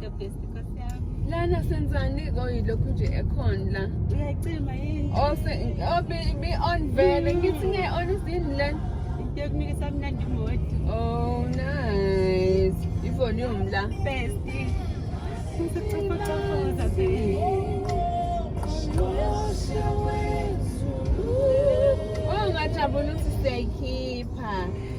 the best nkosi yami lana senzani koyilokhu nje ekhona la uyacima yini ose obe be on vele ngithi nge on izini lana into yokunika samnandi modi oh nice ivolume la best Sicofocofoza baby Oh ngajabula ukuthi siyayikhipha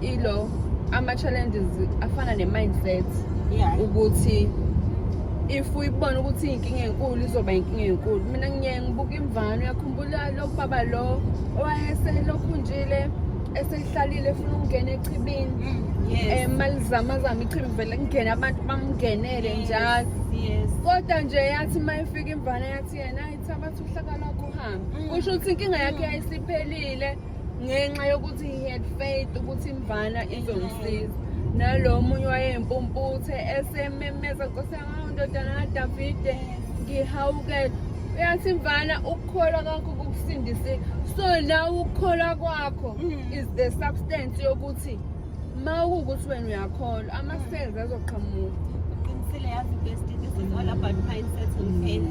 ilo ama-challenges afana ne-mindset yeah. ukuthi if uyibona ukuthi iy'nkinga enkulu izoba inkinga enkulu mina ngiye ngibuka imvano uyakhumbula lo baba lo owayeselokhunjile esehlalile efuna ukungena echibini mm, eh, um malizamazama ichibi vele kungene abantu bamngenele njalo kodwa nje yathi uma ifika imvana yathi yena ayithi abathi uhlaka lwakho uhambe mm. kusho ukuthi inkinga yakhe yayisiphelile ngenxa yokuthi he had faith ukuthi imvana izongisiza nalo omunye wayeyimpumputhe esememeza nkosi yami awu ndodana kadavide ngihawukele uyathi imvana ukukholwa kwakho kukusindisile so nawe ukukholwa kwakho is the substance yokuthi ma kuwukuthi wena uyakholwa ama-cells azoqhamuka uqinisile yazi besti this is all about mindset and faith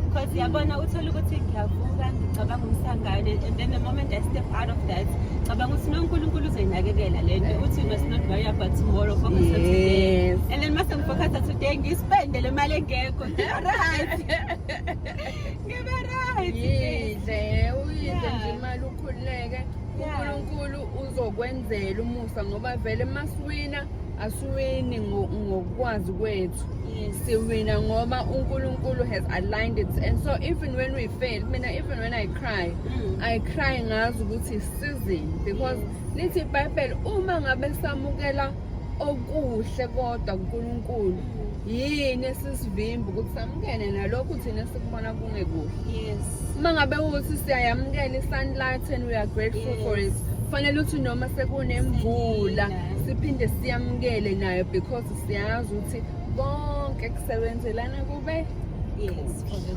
because yabona uthole ukuthi ngiyavuka ngicabanga umsangane and then the moment i step out of that cabanga ukuthi nonkulunkulu uzoyinakekela le nto uthi must not worry about tomorrow focus on today Yes. and then mase ngifocus today ngispende le mali engekho ngibe right ngibe right yidle uyidle Yeah. nje imali ukhululeke uNkulunkulu uzokwenzela umusa ngoba vele masiwina asiwini ngokwazi kwethu siwina ngoba uNkulunkulu has aligned it and so even when we fail mina even when I cry mm. I cry ngazi ukuthi sizini because lithi iBhayibheli uma ngabe samukela okuhle kodwa kuNkulunkulu yini esisivimba ukuthi samukele nalokhu thina sikubona kungekuhle yes uma ngabe ukuthi siyayamukela i-sunlight and we are grateful yes. for it kufanele ukuthi noma sekunemvula siphinde siyamukele nayo because siyazi ukuthi konke kusebenzelana kube yes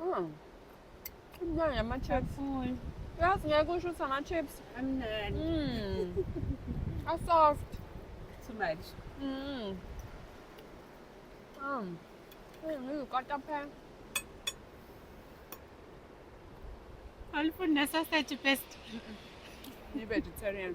Aa. Güzel ya ben chips. Full. Biraz ne koşu sana chips. Annen. Hmm. A soft. Too much. Hmm. Hmm. Hmm, you got a pen. Alfonso, essa é de best. You're vegetarian.